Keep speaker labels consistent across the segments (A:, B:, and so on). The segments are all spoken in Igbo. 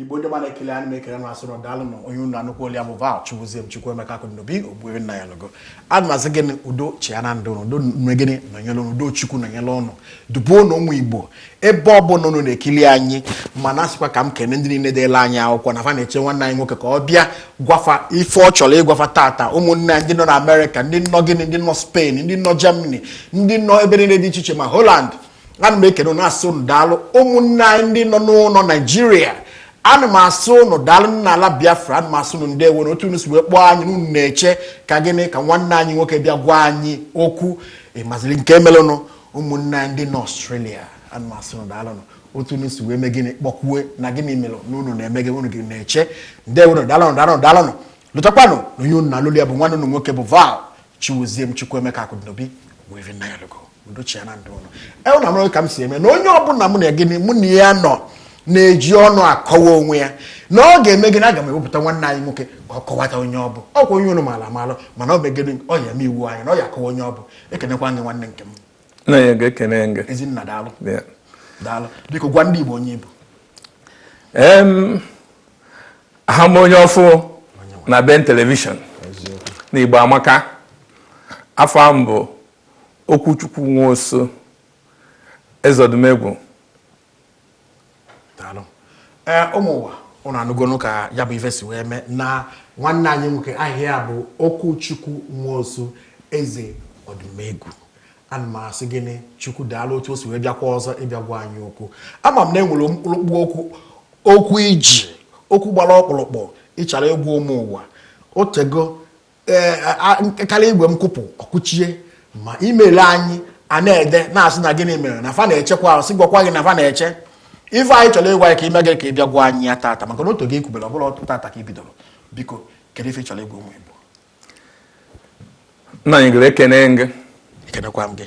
A: igbo ndị ọma na-ekili anyị m na-ekene unu asị unu daalụ na onye unu na-anụkwa olu ya bụ val chukwuzie m chukwuemeka akụdịnobi ogbuefi nnanyelugo ana m asị gịnị udo chịa na ndụ udo mee gịnị nọnyere ụnụ udo chukwu nọnyere ụnụ dube ụnụ ụmụ igbo ebe ọ bụla ụnụ na-ekili anyị m na-asịkwa ka m kene ndị niile deelụ anyị akwụkwọ na fa na-eche nwanne anyị nwoke ka ọ bịa gwafa ife ọ chọrọ ịgwafa tata ụmụnne anyị ndị nọ na amerịka ndị nọ gịnị ndị nọ spain ndị nọ germany ndị nọ ebe niile dị iche iche ma holand ana m ekene ụnụ asị ụnụ daalụ ụmụnne anyị ndị nọ n'ụlọ naijiria ana m asị ụnụ daalụ n'ala biafra ana m asị ụnụ ndeewo na otu unu si wee kpọọ anyị na ụnụ na-eche ka gịnị ka nwanne anyị nwoke bịa gwa anyị okwu ịmaziri nke melụnụ ụmụnne anyị ndị nọ ọstrelia ana m asị ụnụ daalụ otu unu si wee mee gịnị kpọkwue na gịnị melụ na ụnụ na-eme gịnị ụnụ na-eche ndeewonụ daalụ daalụ daalụ lotakwanụ na onye ụnụ na-anụ olu ya bụ nwanne ụnụ nwoke bụ val Chiwezie m Chukwuemeka Akụdịnobi were Nnanyelugo udochia na ndụ ụnụ ewu na mara ka m si eme na onye ọbụla mụ na gịnị mụ na ya nọ na-eji ọnụ akọwa onwe ya na ọ ga-eme gịnị aga m ewepụta nwanne anyị nwoke ka ọ kọwata onye ọ bụ ọkwa onye ụnụ maalụ amalụ mana ọ mee gịnị ọ ya eme iwu anyị na ọ ya akọwa onye ọ bụ ekenekwa gị nwanne
B: nke m ezinna daalụ
A: daalụ biko gwa ndị Igbo onye ị bụ
B: aha m onye ọfụụ na ben telivishọn na igbo amaka afa m bụ okwuchukwu nwosu eze
A: ọdụmegwu ee ụmụ ụwa ụnụ anụgonu ka ya bụ ife si wee mee na nwanne anyị nwoke aha ya bụ okwuchukwu nwosu eze ọdụmegwu ana m asị gịnị chukwu daalụ otu o si wee bịakwa ọzọ ịbịa gwa anyị okwu ama m na e nwere ọkpụrụkpụ okwu okwu i ji okwu gbara ọkpụrụkpụ ị chọrọ ịgwa ụmụ ụwa otego ee e, karịa igwe m kụpụ ọkụchie ma email anyị a na-ede na-asị na gịnị mere na fa na-echekwa sị gwakwa gị na fa na-eche ife anyị chọrọ ịgwa ya ka i mee gịnị ka ị bịa gwa anyị ya tata maka na otu gị kwubere ọ bụla tata ka ị bidoro biko kedu ife ị chọrọ ịgwa ụmụ Igbo
B: nnanyelugo ekene m gị ekenekwa m gị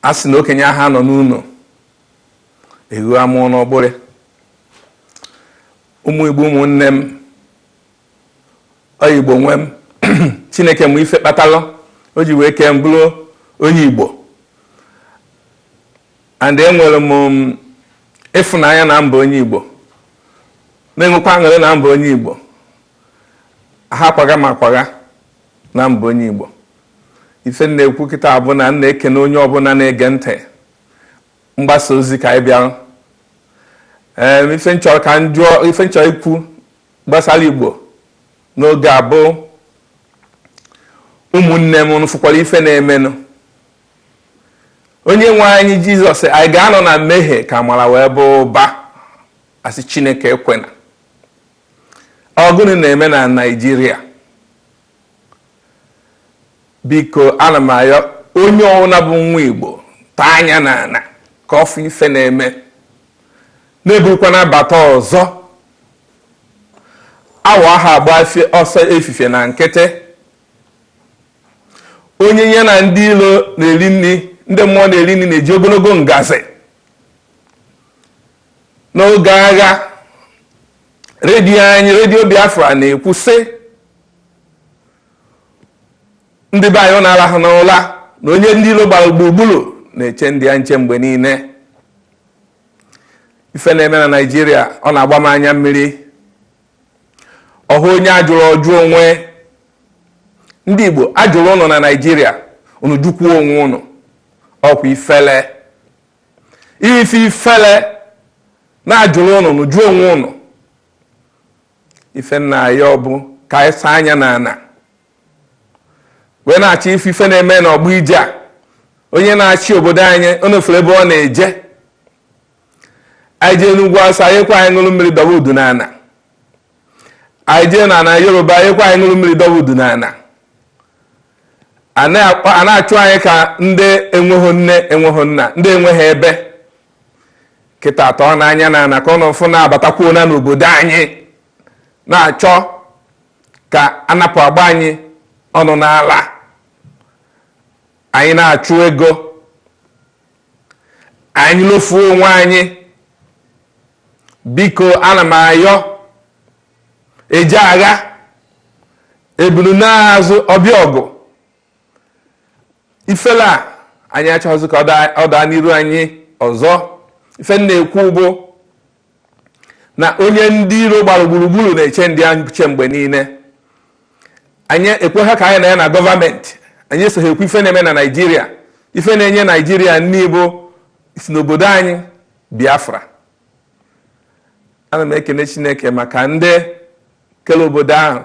B: a sị na okenye aha anọ n'ụlọ ewu amụọ n'ọgbụrị ụmụ igbo ụmụnne m ọ igbo nwe m chineke ma ife kpatalụ o ji wee kee m bụrụ onye igbo and enwere m um, ịfụnanya na m bụ onye igbo na-enwekwa aṅụrị na m bụ onye igbo ha akwaga ma akwaga na mba onye Igbo ife m na-ekwu kịta bụ na m na-ekene onye ọbụla na-ege ntị mgbasa ozi ka anyị bịara ee ife m chọrọ ka m jụọ ife m chọrọ ikwu gbasara Igbo n'oge a bụ ụmụnne m ụnụ fụkwara ife na-emenụ onye nwe anyị jizọs anyị ga-anọ na mmehie ka amara wee baa ụba a sị chineke ekwena Ọ gụnụ na-eme na Naịjirịa? Biko ana m ayọ onye ọwụla bụ nwa Igbo tọọ anya n'ana ka ọ fụ ife na-eme na eburukwana abata ọzọ awọ aha agba ọsọ efifie na nkịtị onye ya na ndị ilo na-eri nri ndị mmụọ na-eri nri na-eji ogologo ngazi n'oge agha redio anyị redio biafra na-ekwu sị ndị be anyị ụnụ arahụna ụla na onye ndị ilo gbara gburugburu na-eche ndụ ya nche mgbe niile ife na-eme na naijiria ọ na-agba m anya mmiri ọhụ onye ajụrụ ọ jụ onwe ndị igbo ajụrụ ụnụ na naijiria unu jụkwuo onwe ụnụ ọkwa ifele ife ifele na ajụrụ ụnụ ụnụ jụọ onwe ụnụ ife m na-ayọ bụ ka anyị saa anya na ana wee na-achọ ife ife na-eme n'ọgbọ ije a onye na-achị obodo anyị onofere ebe ọ na-eje anyị jee n'ugwu awụsa anyị ekwe anyị ṅụrụ mmiri dọba udu n'ana anyị jee na ana yoruba anyị ekwe anyị ṅụrụ mmiri dọba udu n'ana a na-achụ anyị ka ndị enweghị nne enweghị nna ndị enweghị ebe kịta tọọnụ anya na ana ka ụnụ fụ na abatakwuona n'obodo anyị na-achọ ka anapụ agba anyị ọnụ n'ala anyị na-achụ ego anyị lofuo onwe anyị biko ana m ayọ eje agha ebulu naa azụ ọ bịa ọgụ ifele a anyị achọghịzị ka ọ daa n'iru anyị ọzọ ife m na-ekwu bụ na onye ndị iro gbara gburugburu na-eche ndụ ya nche mgbe niile anyị ekweghị ka anyị na ya na gọọmenti anyị esoghị ekwu ife na-eme na naijiria ife na-enye naijiria nni bụ si n'obodo anyị biafra ana m ekene chineke maka ndị kele obodo ahụ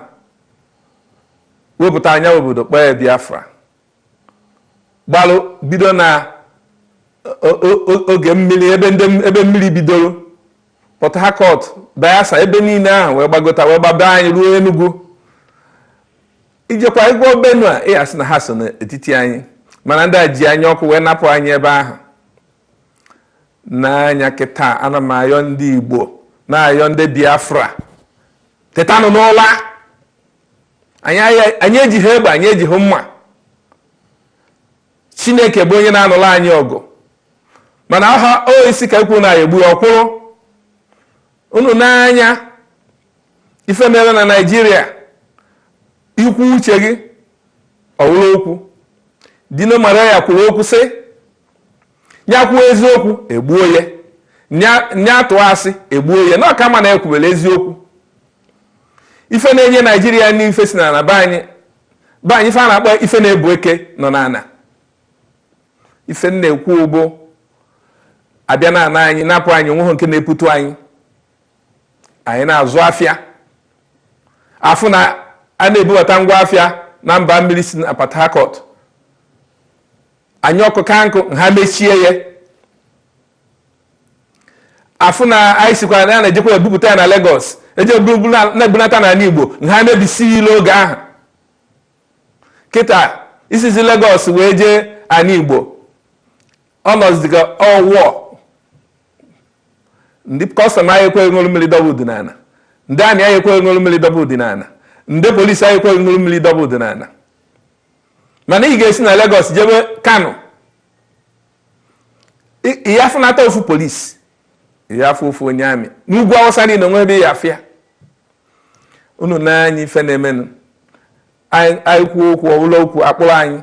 B: wepụta anya obodo kpọọ ya biafra gbalụ bido na oge mmiri ebe mmiri bidoro port harcourt bayelsa ebe niile ahụ wee gbagota wee gbaba anyị ruo enugu i jekwa igbo benue ị ya-asị na ha so n'etiti anyị mana ndị a ji anya ọkụ wee napụ anyị ebe ahụ nee anya kịta ana m ayọ ndị Igbo na-ayọ ndị Biafra tetanụ n'ụla anyị ejighi egbe anyị ejighi mma Chineke bụ onye na-anụlụ anyị ọgụ mana aha o isi ka ekwu na ya egbu ọkwụrụ unu nee anya ife mere na Naịjirịa i kwuo uche gị ọ wụrụ okwu Dino Melaye kwuru okwu sị na ya kwuo eziokwu e gbuo ya na ya tụọ asị e gbuo ya na ọ ka mma na ekwubere eziokwu ife na-enye naijiria nni ife si n'ala be anyị be anyị ife a na-akpọ ife na-ebu eke nọ n'ala ife na-ekwu ọ bụ a bịa na ana anyị napụ anyị onweghị nke na-eputu anyị anyị na-azụ afịa a fụ na a na-ebubata ngwa afịa na mba mmiri si na Port Harcourt anyị ọkụ ka nkụ ha mechie ya a fụ na anyị sikwa na ya na-ejekwa ebupụta ya na Lagos eje na-ebunata n'ala Igbo ha mebisie ilo oge ahụ kịta i sizie Lagos wee jee ala Igbo ọ nọzi ka ọwụọ ndị kọstọm anaghị ekwe gị ṅụrụ mmiri dọba udu n'ala ndị amị anaghị ekwe gị ṅụrụ mmiri dọba udu n'ala ndị polisi anaghị ekwe gị ṅụrụ mmiri dọba udu n'ala mana ị ga-esi na Lagos jebe Kano ị ya-afụnata ofu polisi ị ya-afụ ofu onye amị n'ugwu awụsa niile onwe ebe ị ya-afụ ya unu nee anya ife na-emenụ anyị kwuo okwu ọ bụlụ okwu a kpụrụ anyị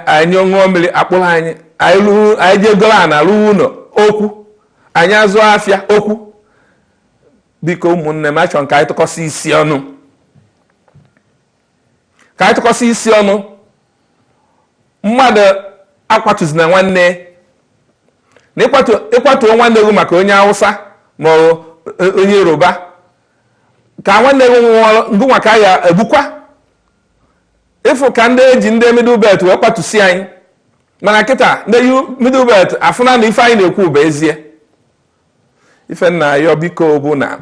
B: anyị ṅụọ mmiri a kpụrụ anyị anyị jee goro ana rụwa ụlọ okwu anyị azụọ afịa okwu biko ụmụnne m achọrọ ka anyị tụkọsị isi ọnụ ka anyị tụkọsị isi ọnụ mmadụ akwatuzina nwanne na ị kwatuo nwanne gị maka onye awụsa ma e, onye yoruba ka nwanne gị nwụọ ngị nwa ka a ya-egbukwa ị fụ ka ndị e ji ndị middle belt wee kwatusi anyị mana kịta ndị middle belt afụna na ife anyị na-ekwu bụ ezie ife m na-ayọ biko bụ na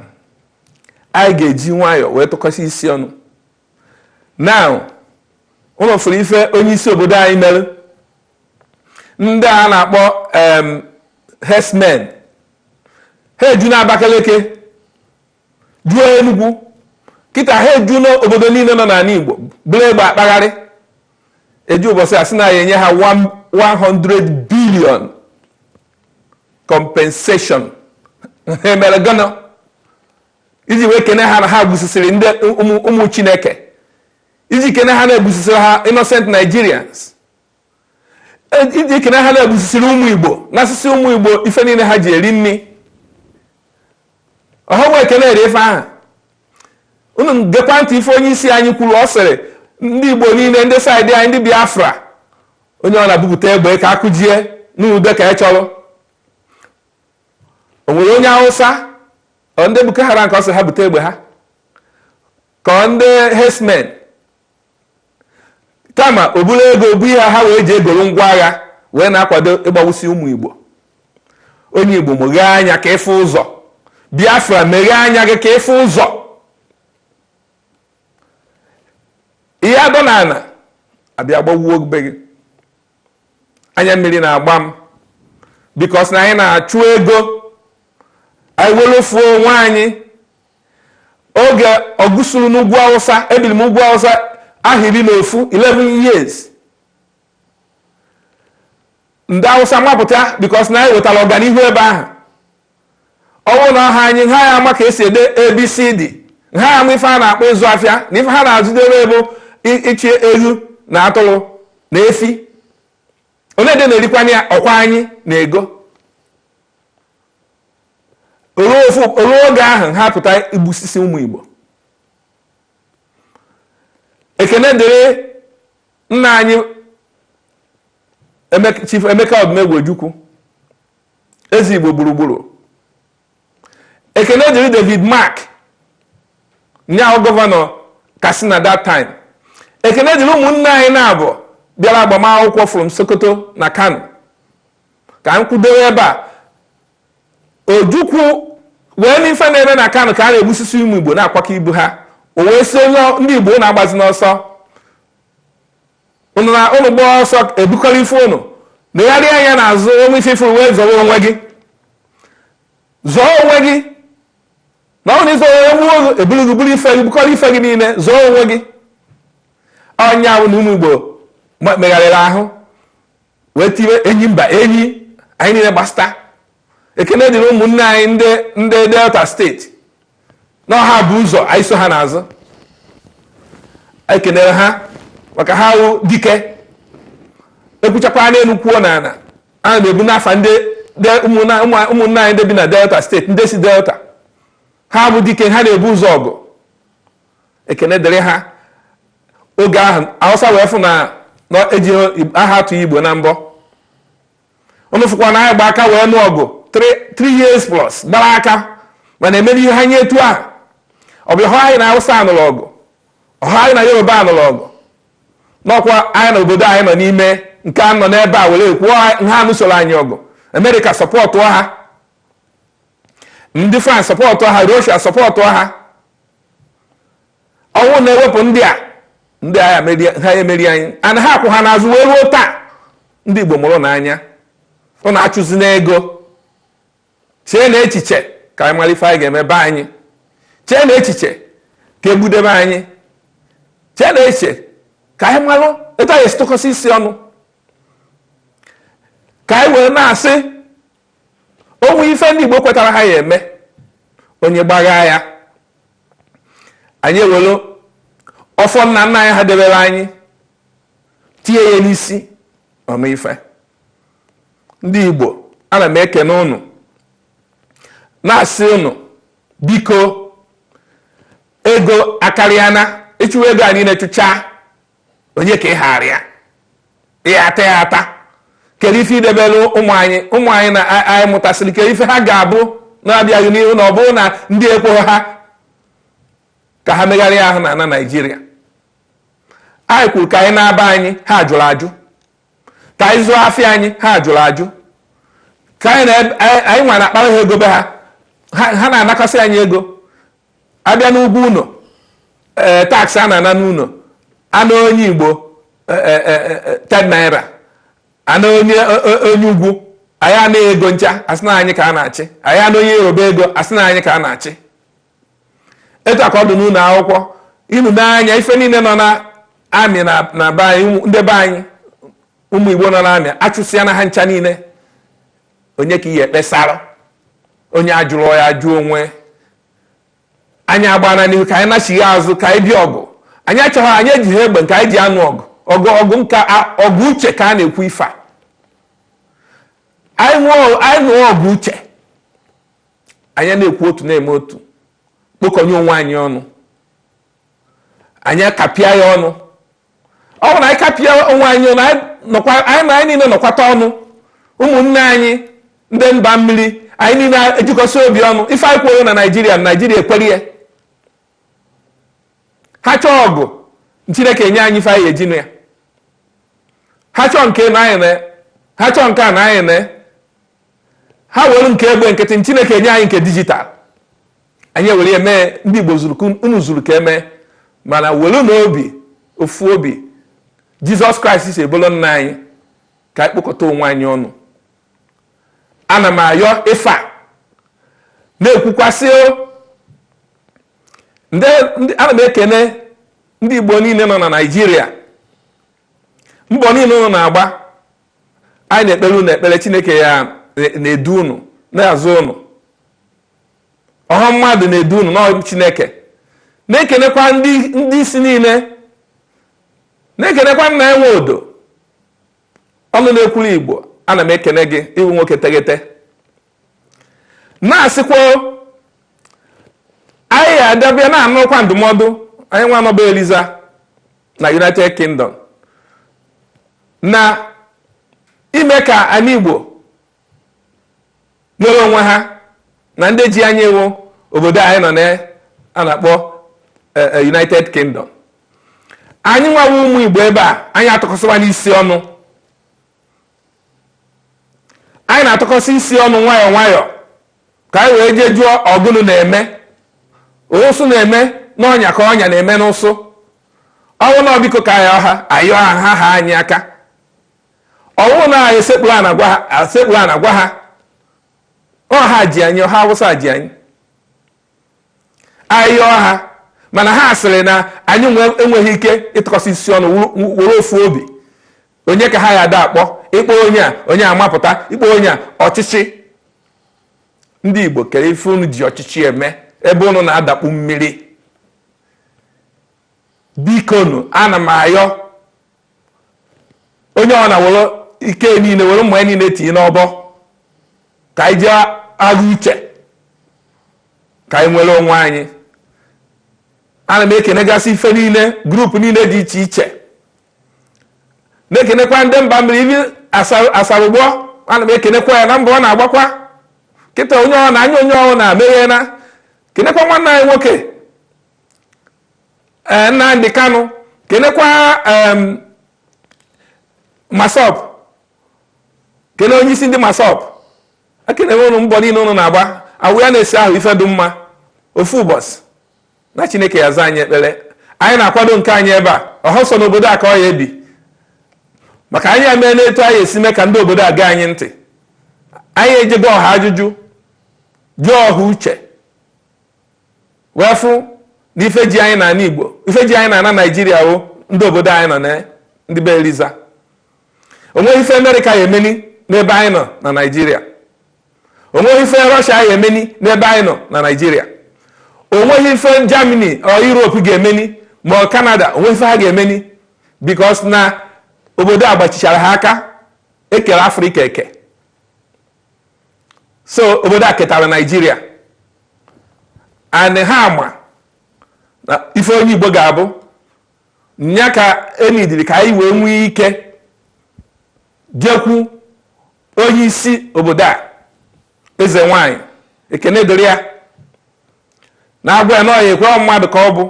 B: anyị ga-eji nwayọọ wee tụkọsị isi ọnụ na unu fụrụ ife onye isi obodo anyị mere ndị a na-akpọ herdsmen ha eju na Abakaliki juo Enugu kịta ha eju n'obodo niile nọ n'ala Igbo buru egbe akpagharị eji ụbọchị a sị na a ya-enye ha 100 billion compensation ha mere gịnị iji wee kene ha na ha gbusisiri ndị ụmụ Chineke iji kene ha na ha gbusisiri innocent Nigerians iji ekene ha na ha gbusisiri ụmụ igbo nasịsị ụmụ igbo ife niile ha ji eri nri ọ ha nwe ekene ere ife ahụ unu gekwa ntị ife onye isi anyị kwuru ọ sịrị ndị igbo niile ndị saịdị anyị ndị biafra onye ọbụna bupụta egbe ka a kụjie n'ude ka ị chọrọ o nwere onye awụsa ọ ndị boko haram ka ọ sị ha bute egbe ha ka ọ ndị herdsmen kama o buru ego bunye ha wee ji egoro ngwa agha wee na-akwado ịgbawusi ụmụ Igbo onye Igbo meghee anya ka ị fụ ụzọ Biafra meghee anya gị ka ị fụ ụzọ ị ya-adọ n'ana a bịa gbawuo be gị anya mmiri na-agba m because na anyị na-achụ ego anyị wee rofuo onwe anyị oge ọgụ suru n'ugwu awụsa ebiri m ugwu awụsa ahọ iri na ofu 11 years ndị awụsa mapụta because na anyị wetara ọganihu ebe ahụ ọ bụ na ọha anyị ha ya-ama ka e si ede abcd ha ya-ama ife a na-akpọ ịzụ afịa na ife ha na-azụdere bụ ịchị eghu na atụrụ na efi onye dị na-erikwanụ ya ọkwa anyị na ego o ruo oge ahụ ha pụta igbusisi ụmụ Igbo ekene dịrị nna anyị Chief Emeka Odumegwu Ojukwu eze Igbo gburugburu ekene dịrị David Mark ya wụ gọvanọ Katsina that time ekene dịrị ụmụnna anyị naabọ bịara agbamakwụkwọ from Sokoto na Kano ka m kwudewe ebe a Ojukwu wee nee ife na-eme na Kano ka a na-egbusisi ụmụ Igbo na-akwakọ ibu ha o wee sị onye ndị Igbo ụnụ agbazina ọsọ ụnụ na ụnụ gbaa ọsọ e bukọrọ ife ụnụ legharịa anya n'azụ o nwee ife ị fụrụ wee zọrọ onwe gị zọọ onwe gị na ọ na ịzọ onwe gbuo ụzọ eburu gị buru ife gị bukọrọ ife gị niile zọọ onwe gị ọ ya bụ na ụmụ Igbo megharịrị ahụ wee tiwe enyi mba enyi anyị niine gbasịta ekene dịrị ụmụnne anyị ndị delta state na ọ ha bu ụzọ anyị so ha n'azụ ekenere ha maka ha wụ dike ekwuchakwa n'enu kwuo n'ana ana m ebuni afa ụmụnne anyị ndị bi na delta state ndị si delta ha bụ dike ha na-ebu ụzọ ọgụ ekene dịrị ha oge ahụ awụsa wee fụ na eji aha atụ igbo na mbọ ụnụ fụkwa na anyị gba aka wee nụọ ọgụ 3 years plus gbara aka mana emere ihe ha nye etu ahụ ọ bụhọ anyị na awụsa nụrụ ọgụ ọhọ anyị na yoruba nụrụ ọgụ na ọ kwa anyị na obodo anyị nọ n'ime nke a nọ n'ebe a were kwuo ha anụsoro anyị ọgụ america support ha ndị france support ha russia support ha ọ wụ na ewepụ ndị a ha ya emeri anyị and ha kwụ ha n'azụ wee ruo taa ndị Igbo mụrụnụ anya ụnụ achụzina ego cheenụ echiche ka anyị malụ ife anyị ga-eme be anyị cheenụ echiche ka egbudebe anyị cheenụ echiche ka anyị malụ etu anyị esi tụkọsị isi ọnụ ka anyị wee na-asị o nwee ife ndị Igbo kwetara ha ya eme onye gbagha ya anyị ewelu ọfọ nna nna anyị ha debere anyị tie ya n'isi ọ nụ ife ndị Igbo ana m ekene ụnụ na-asị ụnụ biko ego akarịana ị chụwa ego a niine chụchaa onye ka ị haara ya ya ata ya ata kedu ife i debere ụmụ anyị ụmụ anyị na anyị mụtasịrị kedu ife ha ga-abụ na-abịa n'ihu na ọ bụrụ na ndị ekweghị ha ka ha megharịa ahụ na na nigeria anyị kwuru ka anyị naa be anyị ha jụrụ ajụ ka anyị zụọ afịa anyị ha jụrụ ajụ ka anyị nwa na-akpara ha ego be ha ha na-anakọsị anyị ego abịa n'ụgwọ ụnọ ee eh, tax a na-ana n'ụnọ a naa onye igbo eh, eh, ten naira a naa onye onye ugwu a ya-ana ego ncha asị na anyị ka a na-achị a ya-ana onye yoruba ego asị na anyị ka a na-achị etu a ka ọ dụ n'ụnọ akwụkwọ i nee anya ife niine nọ na army na be anyị ndị be anyị ụmụ igbo nọ na army achụsịana ha ncha niine onye ka ị ya-ekpesara onye ajụrụ ya ajụ onwe anyị agbana n'ihu ka anyị nachighaa azụ ka anyị bịa ọgụ anyị achọghị anyị ejighị egbe nke anyị ji anụ ọgụ ọgụ ọgụ nka ọgụ uche ka a na-ekwu ife a anyị nụọ ọgụ uche anyị na-ekwu otu na-eme otu kpokọnye onwe anyị ọnụ anyị akapịa ya ọnụ ọ bụ na anyị kapịa onwe anyị ọnụ anyị na anyị niile nọkọta ọnụ ụmụnne anyị ndị mba mmiri anyị niile ejikọsị obi ọnụ ife anyị kwuo na naijiria naijiria ekwere ya ha chọọ ọgụ chineke enye anyị ife anyị eji anụ ya ha chọọ nke na anyị na ha chọọ nke a na anyị na ha were nke egbe nkịtị chineke enye anyị nke digital anyị ewere eme ndị Igbo unu zuru ka eme mana werenụ obi ofu obi Jizọs Kraịst si bụlụ nna anyị ka anyị kpokọta onwe anyị ọnụ ana m ayọ ife a na-ekwukwasị ana m ekene ndị Igbo niile nọ na Naịjirịa mbọ niile unu na-agba anyị na-ekpere unu ekpere chineke ya na-edu unu na-azụ unu ọha mmadụ na-edu unu na ọ wụ chineke na-ekenekwa ndị isi niile na-ekenekwa Nnia Nwodo ọnụ na-ekwuru igbo ana m ekene gị ị wụ nwoke teghete na-asịkwa anyị ya ada abịa na-anụkwa ndụmọdụ anyị nwa nọ be Eliza na united kingdom na ime ka anyị igbo nwere onwe ha na ndị ji anyị wụ obodo anyị nọ na a na-akpọ eh, eh, United Kingdom anyị nwawa ụmụ Igbo ebe a anyị atụkọsịwanụ isi ọnụ anyị na-atụkọsị isi ọnụ nwayọọ nwayọọ ka anyị wee jee jụọ ọ gụnụ na-eme ụsụ na-eme n'ọnya ka ọnya na-eme n'ụsụ ọ bụ na ọ biko ka anyị yọọ ha ayọọ ha ha haa anyị aka ọ wụ na anyị sekpuru ana gwa ha ọ ha ji anyị ọha awụsa ji anyị ayọ ha mana ha sịrị na anyị enweghị ike ịtụkọsị isi ọnụ were ofu obi onye ka ha ya ada akpọ ị kpọọ onye a onye a amapụta ị kpọọ onye a ọchịchị ndị Igbo kere ife unu ji ọchịchị eme ebe unu na-adakpu mmiri bikonu ana m ayọ onye ọ na were ike niile were mma ya niile tinye n'ọbọ ka anyị jee agha uche ka anyị nwere onwe anyị ana m ekenegasị ife niile group niile dị iche iche na-ekenekwa ndị mba mmiri ibe Asari Dokubo ana m ekenekwa ya na mbọ ọ na-agbakwa kịta onye ọ na anya onye ọ na-emeghe na-ekenekwa nwanne anyị nwoke eh, Nnamdi Kanu kenekwa MASSOB kene onye isi ndị MASSOB ekenee m ụnụ mbọ niile ụnụ na-agba awụ ya na-esi ahụ ife dị mma ofu ụbọchị na chineke ya-aza anyị ekpere anyị na-akwado nke anyị ebe a ọ họ sọ n'obodo a ka ọ ya-ebi maka anyị emee n'etu anyị esi mee ka ndị obodo a gee anyị ntị anyị eje gbaa ha ajụjụ jụọ ha uche wee fụ na ife ji anyị n'ala Igbo ife ji anyị n'ala Naijiria ọ ndị obodo anyị nọ na ndị be Eliza onweghị ife Amerịka ya-emeni n'ebe anyị nọ na Naijiria onweghị ife Rọshia ya-emeni n'ebe anyị nọ na Naijiria onweghị ife Germany or Europe ga-emeni ma ọ Canada onweghị ife ha ga-emeni because na obodo a gbachichara ha aka e kere Afrịka eke so obodo a ketara naijiria and ha ma na ife onye igbo ga-abụ nya ka enidiri ka anyị wee nwee ike jekwu onye isi obodo a eze nwanyị ekene dịrị ya na-agwa ya na ọ ya-ekwe mmadụ ka ọ bụ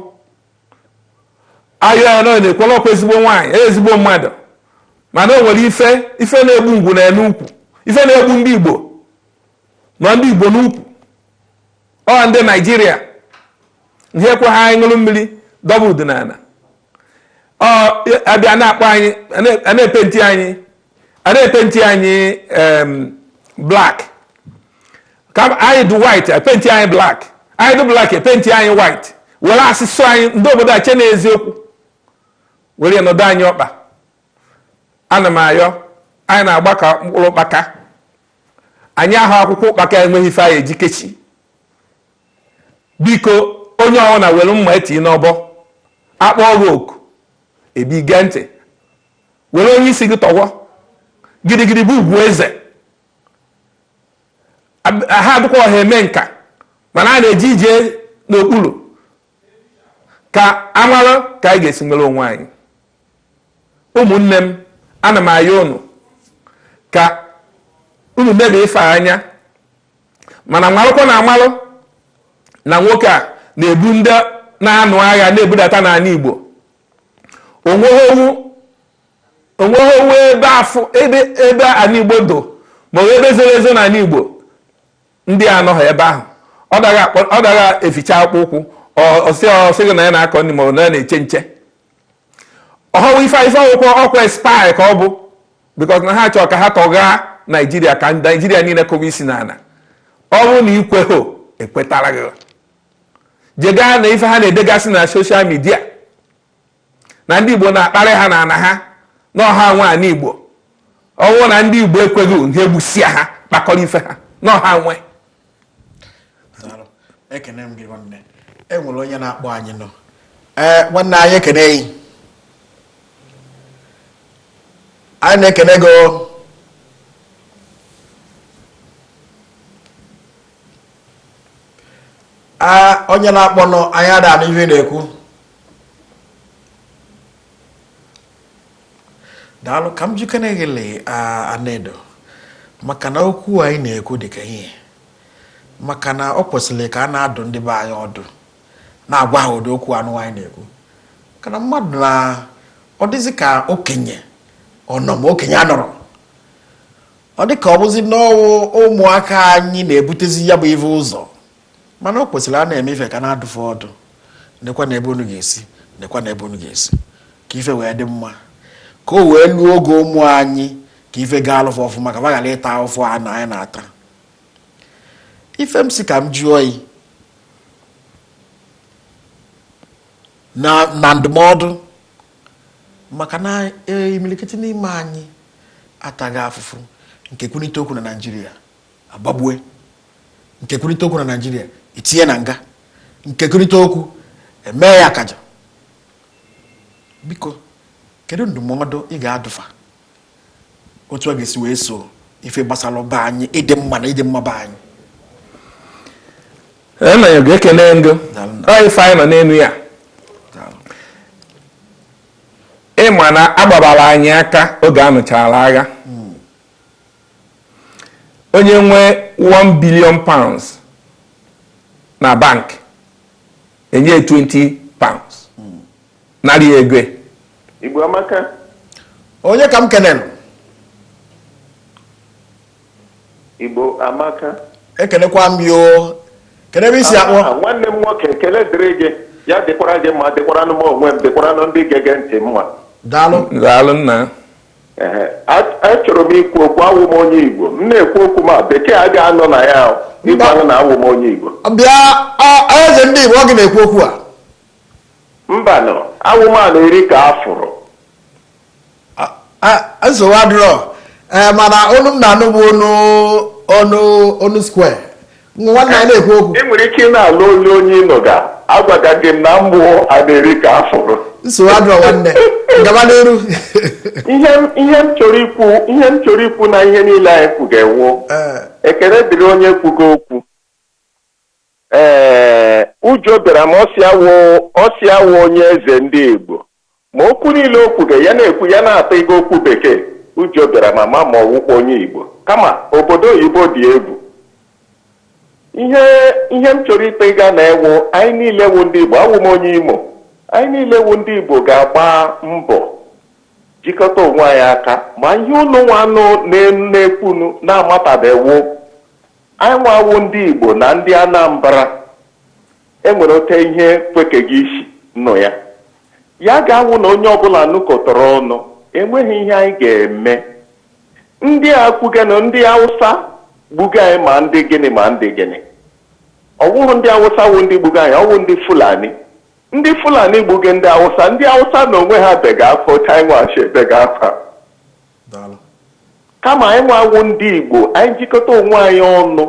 B: a yọọ ya na ọ na-ekwela ọ kwa ezigbo nwaanyị e ezigbo mmadụ mana o nwere ife ife na-egbu ngwu nọ ya n'ukwu ife na-egbu ndị igbo nọ ndị igbo n'ukwu ọ ndị naijiria ihe ekwehọ anyị ṅụrụ mmiri dọba udu n'ala ọ abịa na-akpọ anyị a na-epenti anyị a na-epenti anyị black ka anyị dị white e penti anyị black anyị dị black e penti anyị white were asụsụ anyị ndị obodo a chee na eziokwu were nọdụ anyị ọkpa ana m ayọ anyị na-agba ka mkpụrụ ụkpaka anyị aghọọ akwụkwọ ụkpaka enweghị ife anyị eji kechi biko onye ọbụla were mma tinye n'ọbọ a kpọọ oku ị bịa gee ntị were onye isi gị tọwọ gidigidi bụ ugwu eze ha adịkwa ọha eme nka mana a na-eji ije n'okpuru ka a mara ka anyị ga-esi nwere onwe anyị ụmụnne m ana m ayọ unu ka unu nebe ife anya mana marụkwa na a malụ na nwoke a na-ebu ndị na-anụ agha na-ebudata n'ala Igbo onweghị ọ wụ ebe afọ ebe ebe ala igbo dụ ma ọ ebe zoro ezo n'ala igbo ndị a anọghị ebe ahụ ọ dara eficha akpụkpọ ụkwụ ọ sị ọ sị gị na ya na-akọ ndị ma ọ na na-eche nche ọ hụrụ ife ife akwụkwọ ọ kwa spy ka ọ bụ because na ha chọrọ ka ha tọgha naijiria ka naijiria niile kụwa isi n'ala ọ bụrụ na ị kweghị e kwetara gị je gụa nụ ife ha na-edegasị na social media na ndị Igbo na-akparị ha na ana ha na ọ ha nwe ana Igbo ọ wụ na ndị Igbo ekwerọ ha egbusia ha kpakọrọ ife ha na ọ ha nwe
A: ekene m gị nwanne e nwere onye na-akpọ anyị nọ ee nwanne anyị ekene gị anyị na-ekene gị onye na-akpọnụ anyị ada anụ ife ị na-ekwu daalụ ka m jekene gelụ Anedo maka na okwu anyị na-ekwu dịka ihe maka na ọ kwesịrị ka a na-adụ ndị be anyị ọdụ na-agwa ha ụdị okwu anụ anyị na-ekwu maka na mmadụ na ọ dịzị ka okenye ọ nọ ma okenye anọrọ ọ dị ka ọ bụzi n'ọ wụ ụmụaka anyị na-ebutezi ya bụ ife ụzọ mana o kwesịrị a na-eme ife ka a na-adụ fa ọdụ nekwanụ ebe unu ga-esi nekwanụ ebe unu ga-esi ka ife wee dị mma ka o wee luo oge ụmụ anyị ka ife gaalụ fa ọfụma ka ghara ịta afụfụ a na anyị na-ata ife m si ka m jụọ yi na ndụmọdụ maka na e, imilikiti n'ime anyị atago afụfụ nke kwunite okwu na Naịjirịa a gbagbue nke kwunite okwu na Naịjirịa e tinye na nga nke kwunite okwu e mee ya akaja biko kedu ndụmọdụ ị ga-adụ fa otu a ga-esi wee so ife gbasara be anyị ịdị mma na ịdị mma be
B: anyị nna anyị ga-ekene ngị anyị ife anyị nọ n'enu ya ị ma na a gbabara anyị aka oge a nụchara agha hmm. onye nwe 1 billion pounds na bank e nye 20 Narị ego. Igbo
A: amaka. Onye ka m
C: kenere? Igbo amaka. Ekenekwa m
A: yi o. Kenụ ebe i si akpọ. Nwanne m nwoke ekele
C: dịrị gị. Ya dịkwara gị mma dịkwara anụ m onwe m dịkwara anụ ndị gega ntị mma. Daalụ.
A: Daalụ
B: nna.
C: Achọrọ m ikwu okwu awụ m onye Igbo. M na-ekwu okwu ma bekee a ga-anọ na ya ị ga-anụ na awụ m onye Igbo. Bịa
A: eze ndị Igbo ọ gị na-ekwu okwu a.
C: Mbanụ, awụ m a na-eri ka a
A: fụrụ. nsogbu adịrọ ee mana onu m na-anụ bụ onu onu onu square nwanne anyị na-ekwu okwu I nwere ike ị na-anụ olu
C: onye ị nụga agwaga gị m na mụ wụ a na-eri ka a fụrụ. nsogbu adịrọ
A: nwanne gaba n'iru Ihe
C: m- ihe m chọrọ ikwu ihe m chọrọ ikwu na ihe niile anyị kwuga wụ Ee. ekele dịrị onye kwugo okwu Ee, ụjọ bịara m, ọ sị awụ ọ sị awụ onye eze ndị Igbo. Ma okwu niile o kwuga, ya na-ekwu ya na-atọ ịga okwu bekee. Ụjọ bịara m ama ma ọ wụkwa onye Igbo. Kama obodo oyibo dị egwu. Ihe ihe m chọrọ ịtọ ịga na ewu anyị niile wụ ndị Igbo, awụ m onye Imo. Anyị niile wụ ndị Igbo ga-agba mbọ jikọta onwe anyị aka ma ihe unu nwanụ na-ekwunu na-amatabewo Anyị nwa wụ ndị Igbo na ndị Anambra enwere otu ihe kwekeghị isi nụ ya. Ya ga-awụ na onye ọbụla nọkọtara ọnụ, enweghị ihe anyị ga-eme. Ndị a kwuga na ndị Awụsa gbuga anyị ma ndị gịnị ma ndị gịnị. Ọ wụhụ ndị Awụsa wụ ndị gbuga anyị, ọ wụ ndị Fulani. Ndị Fulani gbuga ndị Awụsa, ndị Awụsa na onwe ha bega akwa otu anyị nwa si ebega akwa. kama anyị nwa wụ ndị Igbo anyị jikọta onwe anyị ọnụ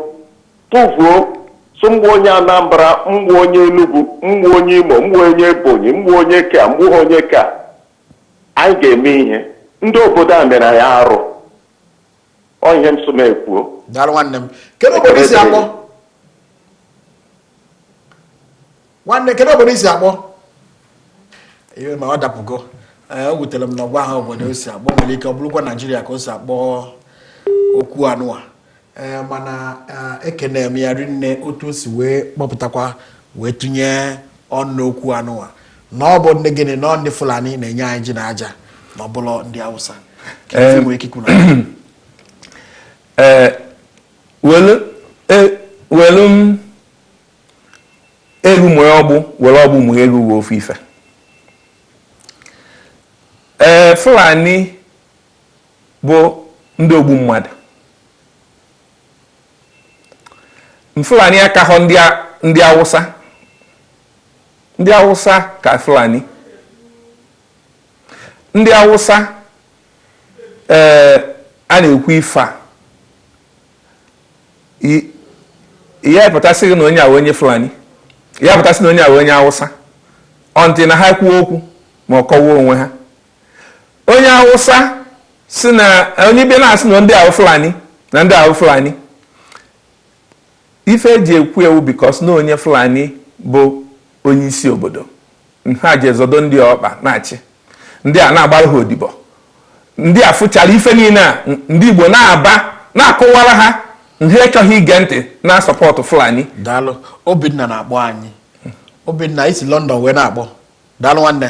C: tụvuo sị mba onye Anambra mba onye Enugu mba onye Imo mba onye Ebonyi mba onye ke a mba onye ke a anyị ga-eme ihe ndị obodo a mere anyị arụ ọ ihe m sị m kwuo daalụ nwanne m
A: kedu obodo i si akpọ nwanne kedu obodo i si akpọ ihe ma ọ dapụgo eh, o wutere m na ọ gwahọ obodo o si akpọ nwere ike ọ bụrụkwa naijiria ka o si akpọ okwu anụwa eh, mana eh, ekene m ya rinne otu o si wee kpọpụtakwa wee tụnye ọnụ okwu anụwa na ọ bụ ndị gịnị na ndị fulani na-enye anyị ji na aja na ọ bụrọ ndị awụsa ka ife m nwere ike ikwu na ee
B: welu m elu mụe ọgbụ were ọgbụ mụe elu uwe ofu ife ee Fulani bụ ndị ogbu mmadụ Fulani akahọ ndị Awụsa ndị Awụsa ka Fulani ndị Awụsa ee a na-ekwu ife a ya apụta sị gị na onye a wụ onye fulani ya apụta sị na onye a wụ onye awụsa until na ha kwuo okwu ma ọ kọwaa onwe ha onye awụsa sị na onye bịa na-asị na ndị a wụ fulani na ndị a wụ fulani Ife e ji ekwu ya wụ because na onye Fulani bụ onye isi obodo. Ha ji azọdo ndị a ọkpa na-achị. Ndị a na-agbara ha odibo. Ndị a fụchara ife niile a ndị Igbo na-aba na-akọwara ha ha achọghị ige ntị na-asupport Fulani. Daalụ.
A: Obinna na-akpọ anyị. Obinna i si London wee na-akpọ. Daalụ nwanne.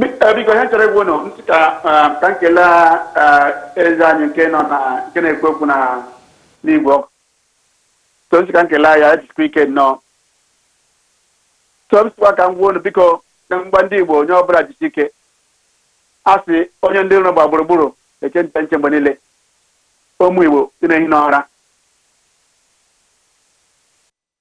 D: Biko biko, ihe m chọrọ ịgwa unu m sị ka eh, ka m kelee eh, eze anyị nke nọ na nke na-ekwu okwu na n'igwe okwu so m sị ka m kelee ya jisikwa ike nnọọ so m sịkwa ka m gwa unu biko na mba ndị igbo onye ọbụla jisi ike a sị onye ndị iro gba gburugburu eche nche nche mgbe niile ụmụ igbo dị na-ehi n'ụra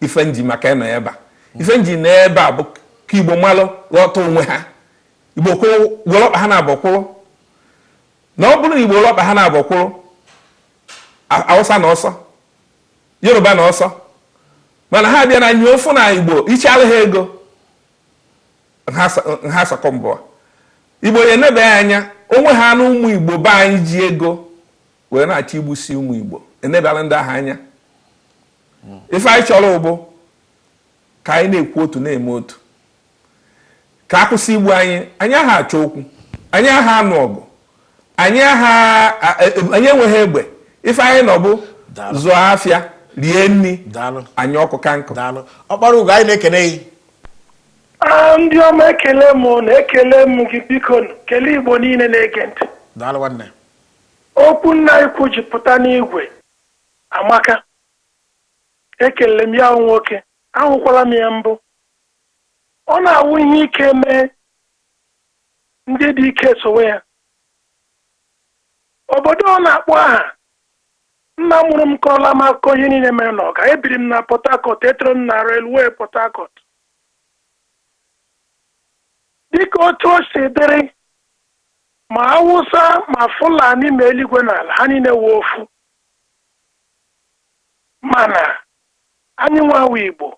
B: ife m ji maka ịnọ ebe a ife m ji nọ ebe a bụ ka igbo malụ ghọta onwe ha igbo kwụrụ igbo welu ọkpa ha naabọ kwụrụ na ọ bụrụ na igbo welu ọkpa ha naabọ kwụrụ awụsa na ọsọ yoruba na ọsọ mana ha bịa na nye ofu na igbo ị chara ha ego ha asị ka m gbuo igbo ya enebeghị anya onwe ha na ụmụ igbo be anyị ji ego wee na-achọ igbusi ụmụ Igbo enebela ndị ahụ anya ife anyị chọrọ bụ ka anyị na-ekwu otu na-eme otu ka a kwụsị igbu anyị anyị aha achọ okwu anyị aha anụ ọgụ anyị aha e, e, anyị enweghị egbe ife anyị nọ bụ zụọ afịa rie nri anyị ọkụ ka nkụ ọkpara ugo
A: anyị na-ekene gị ah,
E: ndị ọma ekele m na ekele m gị biko kelee igbo niile na-ege ntị Okwu nna ikwu ji pụta n'igwe amaka. Ekele m ya nwoke, ahụkwala m ya mbụ. Ọ na-awụ ihe ike mee, ndị dị ike esowe ya. Obodo ọ na-akpọ aha, nna mụrụ m kọọla m akụkọ ihe niile mere n'Ọka. Ebiri m na Port Harcourt, etoro m na railway Port Harcourt. Dịka otu o si dịrị, Ma Awụsa ma Fulani ma eluigwe na ala ha niile wụ ofu. Mana anyị nwa wụ Igbo.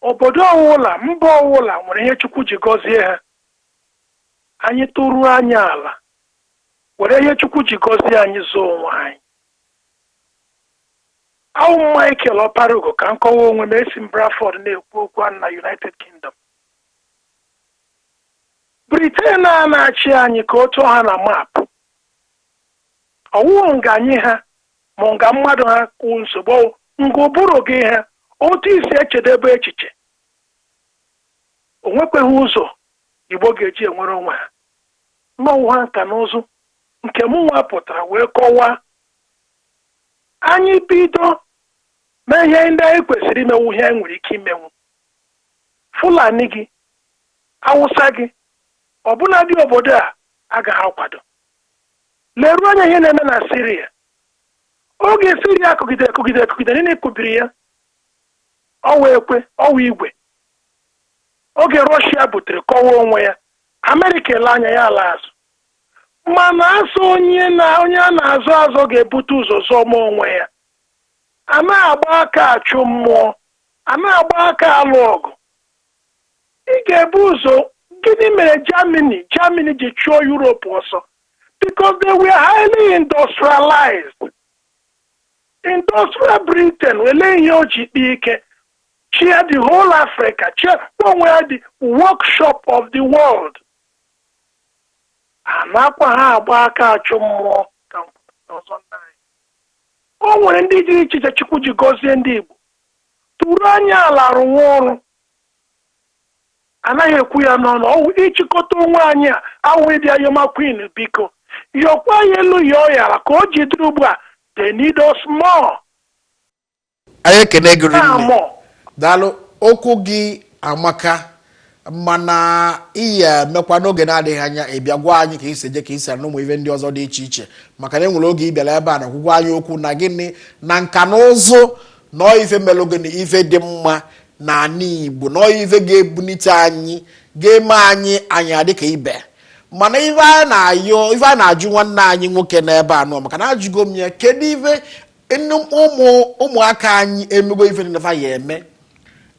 E: Obodo ọwụla, mba ọwụla nwere ihe Chukwu ji gọzie ha. Anyị tụruo anya ala, were ihe Chukwu ji gọzie anyị zọọ onwe anyị. Awụ m Michael Ọparugo ka m kọwa onwe m esi m Bradford na-ekwu okwu a na United Kingdom. Britain a na-achị anyị ka otu ọ ha na map. Ọ wụghị nga anyị ha ma nga mmadụ ha ka wụ nsogbu ọ wụ nga ụbụrụ gị ha otu i si echedebe echiche. O nwekweghị ụzọ Igbo ga-eji enwere onwe ha. Ma ọ wụha nka na ụzụ nke mụnwa pụtara wee kọwaa. Anyị bido mee ihe ndị anyị kwesịrị imenwu ihe anyị nwere ike imenwu. Fulani gị awụsa gị, ọbụnadị obodo a agaghị akwado. Leruo anya ihe na-eme na Siria. Oge Siria kụgidere kụgidere kụgidere, nile kụbiri ya, ọwa ekwe, ọwa igwe. Oge Rọshia butere kọwa onwe ya, Amerịka ele anya ya ala azụ. Mana a sị onye a na-azọ azọ ga-ebute ụzọ zọma onwe ya. A na-agba aka achụ mmụọ, a na-agba aka alụ ọgụ, Ị ga-ebu ụzọ Gịnị mere Germany Germany ji chụọ Europe ọsọ? Because they were highly industrialized. Industrial Britain wele ihe o ji kpaa ike chịa the whole Africa chie onwe ya the workshop of the world. A nakwaghị agba aka achụ mmụọ ka m kwupụta ọzọ nna anyị. O nwere ndị dị iche iche Chukwu ji gọzie ndị Igbo. Tụrụ anya ala rụwa ọrụ. Anaghị ekwu ya n'ọnụ, ọ wụ ịchịkọta onwe anyị a, a wụ ịbịa yọma Queen biko. Yọkwa ya elu yọọ ya ala ka o ji dịrị ugbu a, they need us
A: more. Anyị ekene gị rinne. Daalụ. Okwu gị amaka. mana i yi emekwa n'oge na-adịghị anya ị bịa gwa anyị ka i si eje ka i si ana ụmụ ife ndị ọzọ dị iche iche maka na e nwere oge ị bịara ebe a na-agwa anyị okwu na gịnị na nka na ụzụ na ife melụ gịnị ife dị mma na ala Igbo na ife ga-ebunite anyị ga-eme anyị anyị adịka ibe mana ife a na-ajụ nwanne anyị nwoke n'ebe a nọ maka na ajụgo m ya kedu ife ụmụaka anyị emego ife nfa ya-eme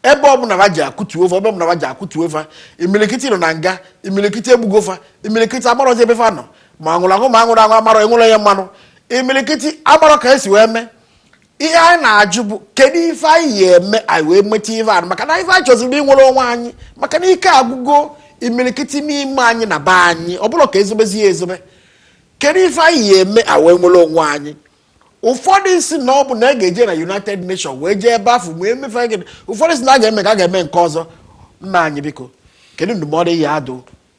A: ebe ọbụla ha je a kụtuo fa ebe ọbụla ha je a kụtuo fa imilikiti nọ na nga imilikiti egbugo fa imilikiti amarọzi ebe fa nọ ma nwụrụ anwụ ma nwụrụ anwụ amarọ enwere ya mmanụ imilikiti amarọ ka esi wee mee ihe anyị na-ajụ bụ kedu ife anyị yi eme anyị wee nweta ife anụ maka na ife anyị chọziri inwere onwe anyị maka na ike agwụgo imilikiti n'ime anyị na be anyị ọ bụrụ ka ezobezi ya ezobe kedu ife anyị yi eme anyị wee nwere onwe anyị ụfọdụ sị na ọ bụ na a ga-eje na united nations wee jee ebe afụ wee mee gịnị ụfọdụ sị na a ga-eme ka a ga-eme nke ọzọ nna anyị biko kedu ndụmọdụ ị ya-adụ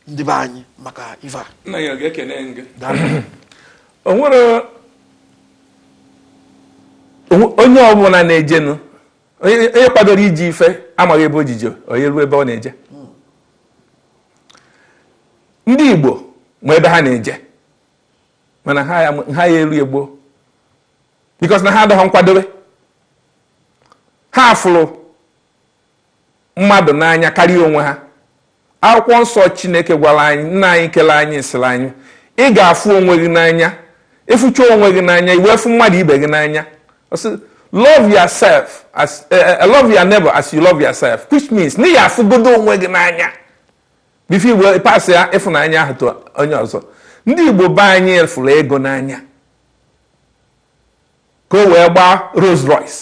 A: ndị be anyị maka ife a nna ya ga-ekene gị
B: o nwere onye ọbụla na-ejenụ onye kwadoro iji ife amaghị ebe ojije onye ruo ebe ọ na-eje ndị Igbo ma ebe ha na-eje mana ha ya ha ya elu Igbo because na ha adọghọ nkwadobe ha fụrụ mmadụ n'anya karịa onwe ha akwụkwọ nsọ chineke gwara anyị nna anyị kele anyị sịrị anyị ị ga-afụ onwe gị n'anya ị fụcha onwe gị n'anya ị wee fụ mmadụ ibe gị n'anya love yourself as eh, eh, love your neighbor as you love yourself which means na ị ya-afụgodo onwe gị n'anya before ị wee pasịa ịfụnanya ahụ to onye ọzọ ndị igbo be anyị fụrụ ego n'anya ka o wee gbaa Rolls Royce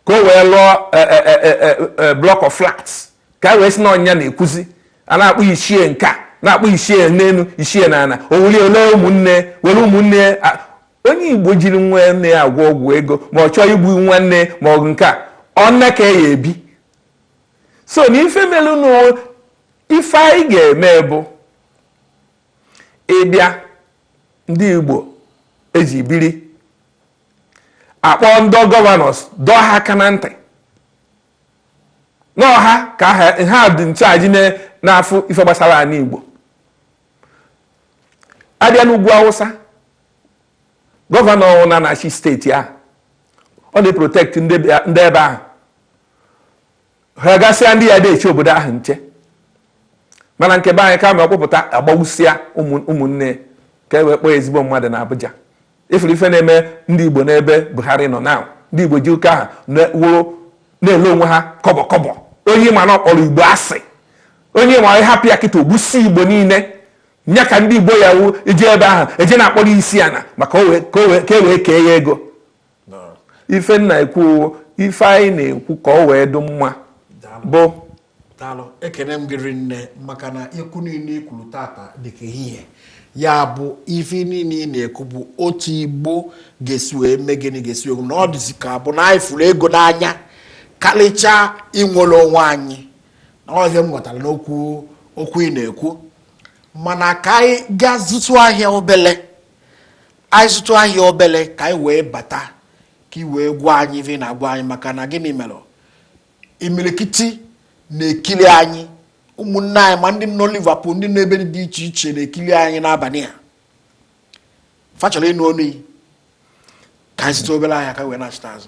B: ka o wee lụọ e, e, e, block of flats ka e wee si na ọ nya na-ekwuzi a na-akpọ ichie nke a na-akpọ ichie n'elu ichie na ana owuli ole ụmụnne were ụmụnne onye igbo jiri nwanne ya agwọ ọgwụ ego ma ọ chọọ igbu nwanne ma ọ nke a ọ nne ka ya ebi so na ife melu na ife anyị ga-eme bụ ịbịa ndị Igbo e ji biri akpọọ ndị gọvanọs dọọ ha aka na ntị n'ọha ka ha dị in charge na-afụ ife gbasara anị Igbo a bịa n'ugwu Awụsa gọvanọ na-achị steeti ahụ ọ na-eprotekt ndị ebe ahụ ha gasịa ndị ya na-eche obodo ahụ nche mana nke be anyị kama ọ kpụpụta agbawusịa ụmụnne ka e wee kpọọ ezigbo mmadụ na Abuja ị fụrụ ife na-eme ndị Igbo n'ebe Buhari nọ na ndị Igbo ji ụka ahụ wụrụ na-ele onwe ha kọbọ kọbọ onye ma na ọ kpọrọ Igbo asị onye ma ị hapụ ya kịta o gbusịa Igbo niile nya ka ndị Igbo ya wu ije ebe ahụ eje na-akpọrọ isi ana maka ka e wee kee ya ego ife m na-ekwu ife anyị na-ekwu ka ọ wee dị mma bụ
A: daalụ ekene m gị rinne maka na okwu niile i kwuru tata dịka ehihie ya bụ ife niile ị na-ekwu bụ otu igbo ga-esi wee mee gịnị ga-esi wee na ọ dịzi ka bụ na anyị fụrụ ego n'anya karịchaa inwere onwe anyị na ọ ihe m ghọtara n'okwu ị na-ekwu mana ka anyị gaa zụtụ ahịa obele anyị zụtụ ahịa obele ka anyị wee bata ka ị wee gwa anyị ife ị na-agwa anyị maka na gịnị mere imirikiti na-ekiri anyị ụmụnne anyị ma ndị nọ Liverpool ndị nọ ebe dị iche iche na-ekiri anyị n'abalị a fa chọrọ ịnụ ọnụ gị ka anyị zụtụ obere ahịa ka anyị wee nachita azụ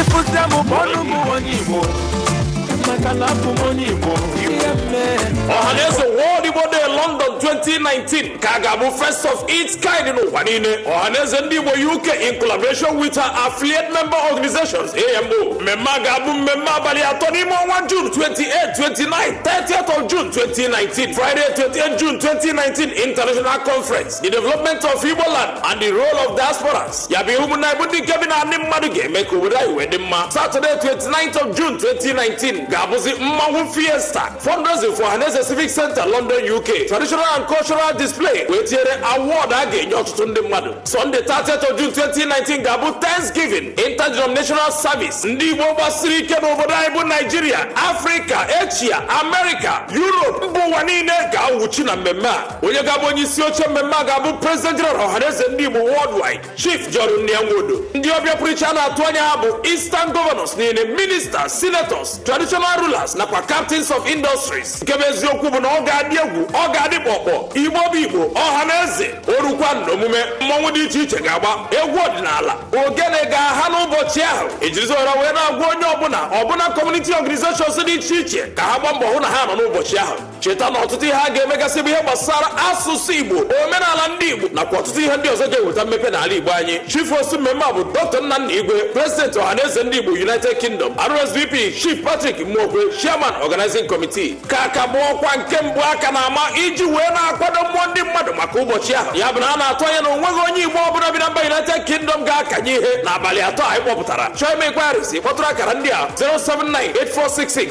F: ịfụsịa m bụ ọnụ m onye igbo maka na abụ m onye igbo ihe mee ọhaneze world igbo day london 2019 nke a ga-abụ first of its kind n'ụwa niile ọhaneze ndị igbo uk in collaboration with her affiliate member organizations amo mmemme a ga-abụ mmemme abalị atọ n'ime ọnwa june 28 29 30th of june 2019 friday 28 june 2019 international conference the development of Igbo land and the role of diasporas ya bụ ihe ụmụnna Igbo ndị nke bi na ndị mmadụ ga-eme ka obodo anyị wee dị mma Saturday 29th of June 2019 ga-abụzi mmanwụ fiesta fundraising for Ọhaneze Civic Center London UK traditional and cultural display wee tinyere award a ga-enye ọtụtụ ndị mmadụ Sunday 30th of June 2019 ga-abụ Thanksgiving interdenominational service ndị Igbo gbasiri ike n'obodo anyị bụ Naijiria Afrịka Eshia Amerịka Europe mba ụwa niile ga-awụchi na mmemme a onye ga-abụ onye isi oche mmemme a ga-abụ president general ọhaneze ndị igbo worldwide chief john nnia nwodo ndị ọbịa pụrụ iche a na-atụ anya ha bụ eastern governors niile ministers senators traditional rulers nakwa captains of industries nke bụ eziokwu bụ na ọ ga-adị egwu ọ ga-adị kpọkpọ igbo bụ igbo ọha na eze orukwa n'omume mmanwụ dị iche iche ga-agba egwu ọdịnala ogene ga-aha n'ụbọchị ahụ ejirizi ohere a wee na-agwa onye ọbụla ọbụla community organizations dị iche iche ka ha gbaa mbọ hụ na ha nọ n'ụbọchị ahụ cheta na ọtụtụ ihe a ga-emegasị bụ ihe gbasara asụsụ igbo omenala ndị igbo nakwa ọtụtụ ihe ndị ọzọ ga-eweta mmepe n'ala igbo anyị chief host mmemme a bụ dr nnanna igwe president ọhaneze ndị igbo united kingdom rsvp chief patrick mmokwe chairman organizing committee nke a ka bụ ọkwa nke mbụ a ka na-ama iji wee na-akwado mmụọ ndị mmadụ maka ụbọchị ahụ ya bụ na a na-atụ anya na onweghị onye igbo ọbụla bi na mba united kingdom ga-akanye ihe n'abalị atọ anyị kpọpụtara chọọ ime inquiries kpọtụrụ akara ndị a 079 8466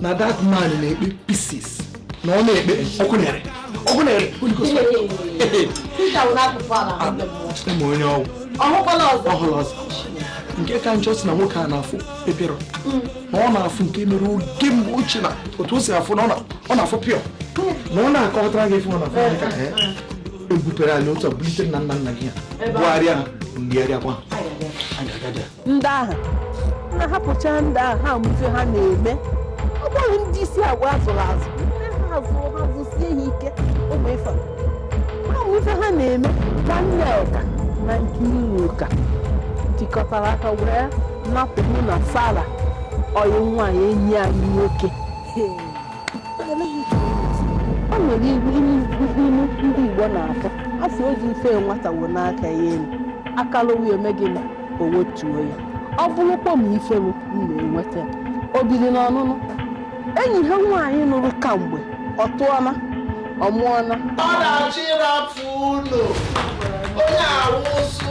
A: na that man na-ekpe pieces na ọ na-ekpe ọkụ na-ere ọkụ na-ere ma onye ọgwụ ọhụrụ ọzọ nke ka njọ sị na nwoke a na-afụ pepero na ọ na-afụ nke mere oge mgbe ochie na otu o si afụ na ọ na-afụ pịọ na ọ na-akọtara gị ife ọ na-afụ ka ebupere anyị otu a bulite nna nna nna gị ya bụgharịa ha mgligharịakwa
G: ndị ahụ na hapụcha ndị ahụ ha ma ife ha na-eme ọ bụghị ndị isi agwa azụrụ azụ ndị ha azụrụ ha zụsie ha ike ụmụ ife ha ma ife ha na-eme nwanne ọka na nke iwu ụka tikọtara aka were napụrụ na sara ọyị nwaanyị enyi anyị nwoke o nwere iwu ilu ndị igbo na-aka a sị o ji ife nwata wonie aka ya elu aka lowe ya o mee gịnị o wetuo ya ọ bụrụkwa m ife m m na-enweta o biri n'ọnụnụ enyi ha nwaanyị nụrụ kamgbe ọ tụọna ọ mụọna ọ na-achọ
H: ịrapụ ụlọ onye awụsụ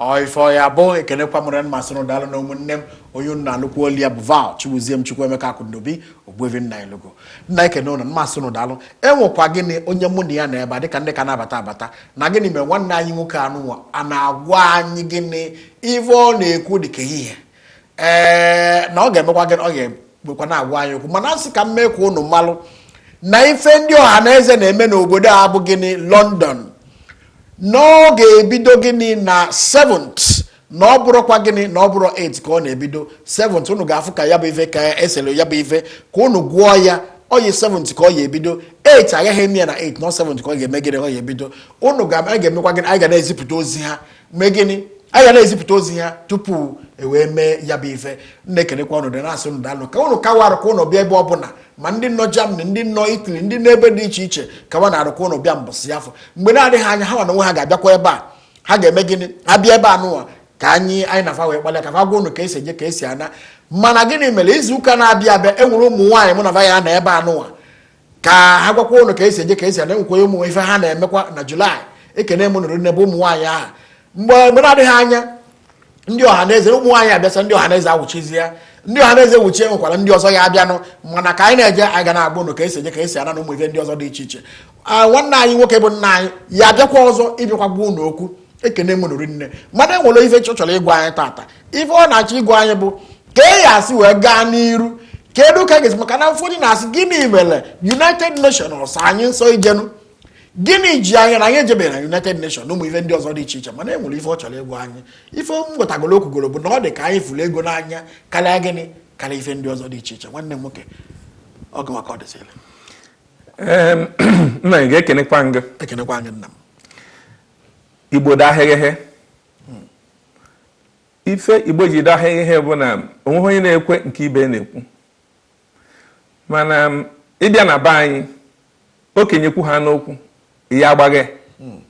A: ọ ife ọ ya-abụ ekenekwa m unu rinne m asị unu daalụ na ụmụnne m onye unu na-anụkwa olu ya bụ val chibuziem chukwuemeka akụndobi ogbuevi nnanyelugo na-ekene ụnụ m asị ụnụ daalụ enwekwa gịnị onye mụ na ya nọ ebe a dịka ndị ka na-abata abata na gịnị mere nwanne anyị nwoke a nụnwa na-agwa anyị gịnị ive ọ na-ekwu dịka ihe ee na ọ ga-emekwa gịnị ọ gakwa na-agwa anyị okwu mana a sị ka m mee ka unu malụ na ife ndị ọhaneze na-eme n'obodo a bụ gịnị London na ọ ga-ebido gịnị na 7th na ọ bụrọkwa gịnị na ọ bụrọ 8 ka ọ na-ebido 7th unu ga-afụ ka ya bụ ife ka e sere ya bụ ife ka unu gụọ ya oyi 7 ka ọ ya-ebido 8 agaghị eme ya na 8 na 7 ka ọ ga-eme gịnị ọ ya-ebido ụnụ ga-emekwa gịnị anyị ga na-ezipụta ozi ha mee gịnị anyị ga na-ezipụta ozi ha tupu e wee mee ya bụ ife na-ekenekwa ụnụ rinne asị ụnụ daalụ ka ụnụ kawa arụ ka ụnụ bịa ebe ọbụla ma ndị nọ Germany ndị nọ Italy ndị nọ ebe dị iche iche kawa na arụ ka ụnụ bịa mbọsị afụ mgbe na-adịghị anya ha nwa ha ga-abịakwa ebe a ha ga-eme gịnị ha bịa ebe a nụwa ka anyị anyị na fa wee kpalịa ka fa gwa ụnụ ka esi eje ka esi ana mana gịnị mere izu ụka na-abịa abịa enwere ụmụ nwaanyị mụ na va ya-anọ ebe a nụwa ka ha gwakwa ụnụ ka esi eje ka esi ana enwekwa ụmụ ife ha na-emekwa na julaị ekene m ụnụ rinne bụ ụmụ nwaanyị ahụ mgbe mgbe na-adịghị anya ndị ọhaneze ụmụ nwaanyị abịasa ndị ọhaneze awụchizi ya ndị ọhaneze wuchie enwekwara ndị ọzọ ya-abịanụ mana ka anyị na-eje anyị ga na-agwa ụnụ ka esi eje ka esi ana na ụmụ ife ndị ọzọ dị iche iche nwanne anyị nwoke bụ nna anyị ya-abịakwa ọzọ ịbịakwa gwa ụnụ okwu ekene m ụnụ rinne mana enwere ife ọ chọrọ ịgwa anyị tata ife ọ na-achọ ịgwa anyị bụ ka a ya-esi wee gaa n'iru kedu ka a ga-esi maka na ụfọdụ na-asị gịnị mere united nations anyị nsọ ijenu gịnị ji anyị na anyị ejeberọ na united nations na ụmụ ife ndị ọzọ dị iche iche mana e nwere ife ọ chọrọ ịgwa anyị ife m ghọtagoro o kwugoro bụ na ọ dị ka anyị fụrụ ego n'anya karịa gịnị karịa ife ndị ọzọ dị iche iche nwanne m nwoke ọ gị ma ka ọ dịsịrị
B: nna anyị ga-ekenekwa ngị ekenekwa ngị nna m igbo dahịghịghị hmm. ife igbo ji dahụ ihe bụ na onweghị onye na-ekwe nke ibe na-ekwu mana um, ịbịa na be anyị okenye kwuhanụ okwu ya agbaghe hmm.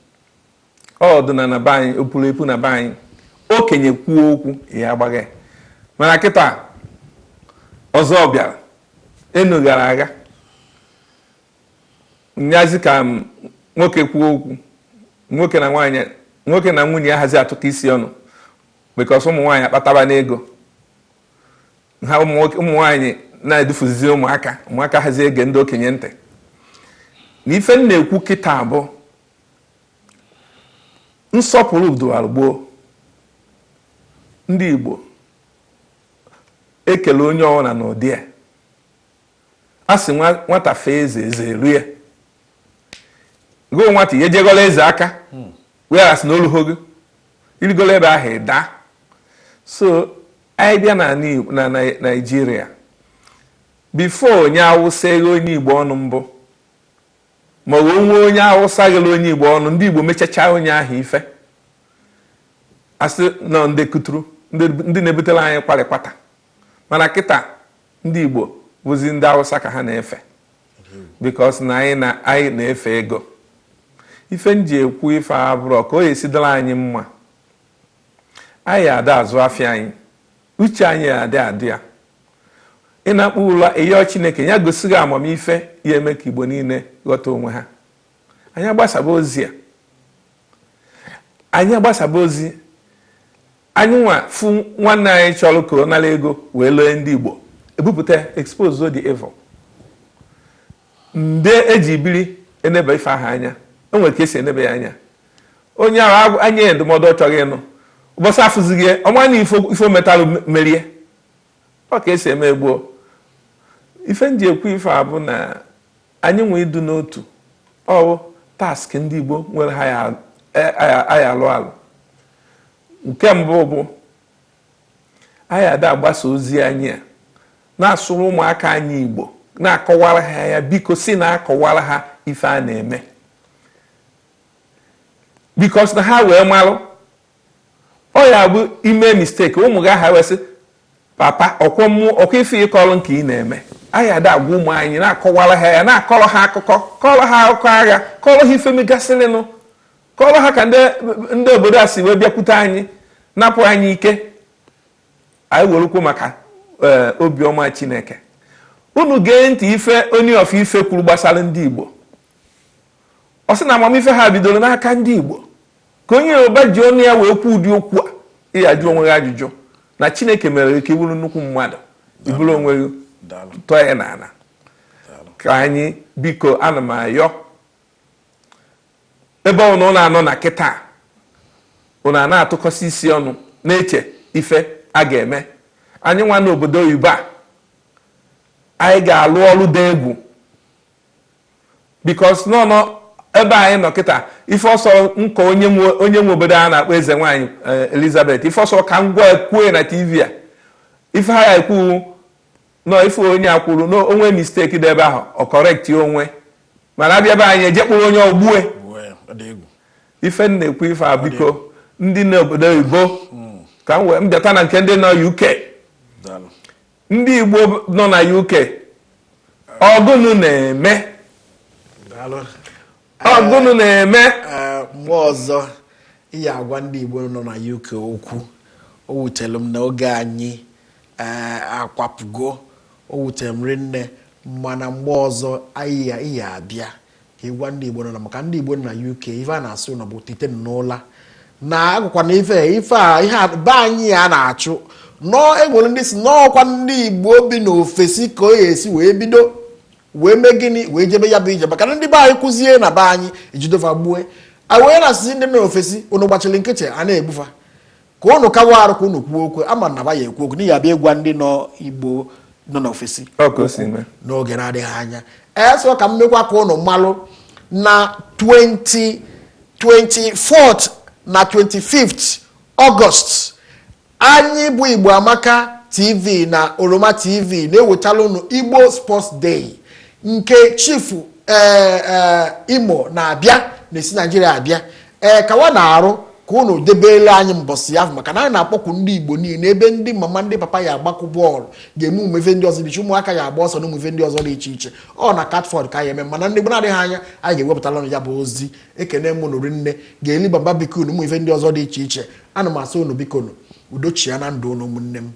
B: ọ dụ na na be anyị o puru epu na be anyị okenye kwuo okwu ya agbaghe mana kịta ọzọ bịara enu gara aga nyazi ka nwoke kwuo okwu nwoke na nwunye ya anahazi atụkọ isi ọnụ because ụmụ nwaanyị akpatabana ego ha ụmụ nwaanyị na-edufuzi ụmụaka ụmụaka anahazi ege ndị okenye ntị na ife m na-ekwu kịta bụ nsọpụrụ dụwara gboo ndị Igbo ekele onye ọwụna n'ụdị a a sị nwata fee eze eze eluo ya gụọ nwata ya ejegọla eze aka hmm. weghasị na o luho gị i rigolo ebe ahụ ị daa so anyị bịa na naijiria before onye awụsa eghe onye igbo ọnụ mbụ ma o nwee onye awụsa ghele onye igbo ọnụ ndị igbo mechacha onye ahụ ife a sị na ọ ndị kuturu ndị na-ebutela anyị kwarịkwata mana kịta ndị Igbo bụzi ndị Awụsa ka ha na-efe because na anyị na-efe ego ife m ji ekwu ife a bụrụ ka ọ ya-esi dịla anyị mma anyị ada azụ afịa anyị uche anyị adị adị ya ị nakpuo ụla ị yọọ Chineke ya gosi gị amamife ya-eme ka Igbo niile ghọta onwe ha anyị agbasaba ozi a anyị agbasaba ozi anyị nwa fụ nwanne anyị chọrọ ka ọ nara ego wee lee ndị Igbo ebupụta expose the evil ndị e ji biri enebe ife ahụ anya e nwere ka e si enebe ya anya onye ahụ enye ya ndụmọdụ ọ chọghị ịnụ ụbọchị afụzighị ọ ma na ife o metalụ merie ọ ka e si eme gboo ife m ji ekwu ife a bụ na Anyị nwee ịdị n'otu ọ wụ task ndị Igbo nwere ha ya-alụ alụ nke mbụ bụ anyị ada agbasa ozi anyị a na-asụrụ ụmụaka anyị Igbo na-akọwara ha ya because ị na-akọwara ha ife a na-eme because na ha wee malụ Ọ ya-abụ i mee mistake ụmụ gị a ha wee sị papa ọkwọ mmụọ ọ kwa ife ị kọrọ nke ị na-eme anyị ada agwa ụmụ anyị na-akọwara ha ya na-akọrọ ha akụkọ kọrọ ha akụkọ agha kọrọ ha ife megasịrịnụ kọrọ ha ka ndị obodo a si wee bịakwute anyị napụ anyị ike anyị werukwu maka eh, obiọma chineke unu gee ntị ife Ooni of Ife kwuru gbasara ndị igbo ọ sị na amamife ha bidoro n'aka ndị igbo Ka onye Yoruba ji ọnụ ya wee kwuo ụdị okwu a, ị ya-ajụ onwe gị ajụjụ na Chineke mere ka ị bụrụ nnukwu mmadụ, i buru onwe gị tọọ ya n'ala. Ka anyị biko ana m ayọ ebe ụnụ na-anọ na kịta ụnụ a na-atụkọsị isi ọnụ na-eche ife a ga-eme anyị nwa n'obodo oyibo a anyị ga-alụ ọrụ dị egwu because nọ nọ ebe anyị nọ kịta ife ọsọ nka onye nwe onye nwe obodo a na-akpọ eze nwaanyị eh, elizabeth ife ọsọ ka m gwa kwue na tv a ife ha ya ekwu nọ ife onye a kwuru na o nwee mistake dị ebe ahụ ọ correct onwe mana a bịa be anyị e je kpụrụ onye ahụ gbue ife m na-ekwu ife a biko ndị n'obodo oyibo ka m wee bịata na nke ndị nọ uk ndị Igbo nọ na UK ọ gụnụ na-eme ọ
A: gụnụ na-eme mgbe ọzọ anyị agwa ndị Igbo nọ na UK okwu o wutere m na oge anyị akwapụgo o wutere m rinne mana mgbe ọzọ anyị abịa ka ịgwa ndị Igbo nọ na maka ndị Igbo nọ na UK ife a na-asị ụnụ bụ tete n'ụla na agụkwa na ife ife a ihe be anyị a na-achụ nọọ e nwere ndị sị n'ọ kwa ndị Igbo bi n'ofesi ka o si wee bido wee mee gịnị wee jebe ya bụ ije maka na ndị be anyị kwuzie na be anyị e jide va gbue wee na-asịzi ndị nọ n'ofesi ụnụ gbachiri nkịtị a na-egbu fa ka ụnụ kawa arụ ka ụnụ kwuo okwu ama m na ba ya-ekwu okwu anyị ya-abịa ịgwa ndị nọ igbo nọ n'ofesi n'oge na-adịghị anya so ka m mekwa ka ụnụ malụ na 20 24th na 25th ọgọst anyị bụ igbo amaka tv na oroma tv na-ewetala ụnụ igbo sports day nke chifu eh, eh, imo na-abịa na-esi naijiria abịa ee kawanụ arụ ka ụnụ debeele anyị mbọsị ahụ maka na anyị na-akpọku ndị igbo niile ebe ndị mama ndị papa ya-agbakọ bọọlụ ga-eme ụmụ ife ndị ọzọ dị iche ụmụaka ya-agba ọsọ na ụmụ ife ndị ọzọ dị iche iche ọ na catford ka a ya-eme mana mgbe na-adịghị anya anyị ga-ewepụtara ụnụ ya bụ ozi ekene m ụnụ rinne a ga-eli barbecue na ụmụ ife ndị ọzọ dị iche iche ana m asị ụnụ bikonu udo chịa na ndụ ụnụ ụmụnne m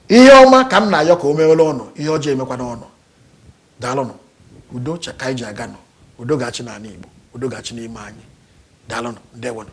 A: ihe ọma ka m na-ayọ ka o mewere ụnụ ihe ọjọọ emekwana ụnụ daalụnụ udo chịa ka anyị ji aga na udo ga-achị n'anị igbo udo ga-achị n'ime anyị daalụnụ ndewonụ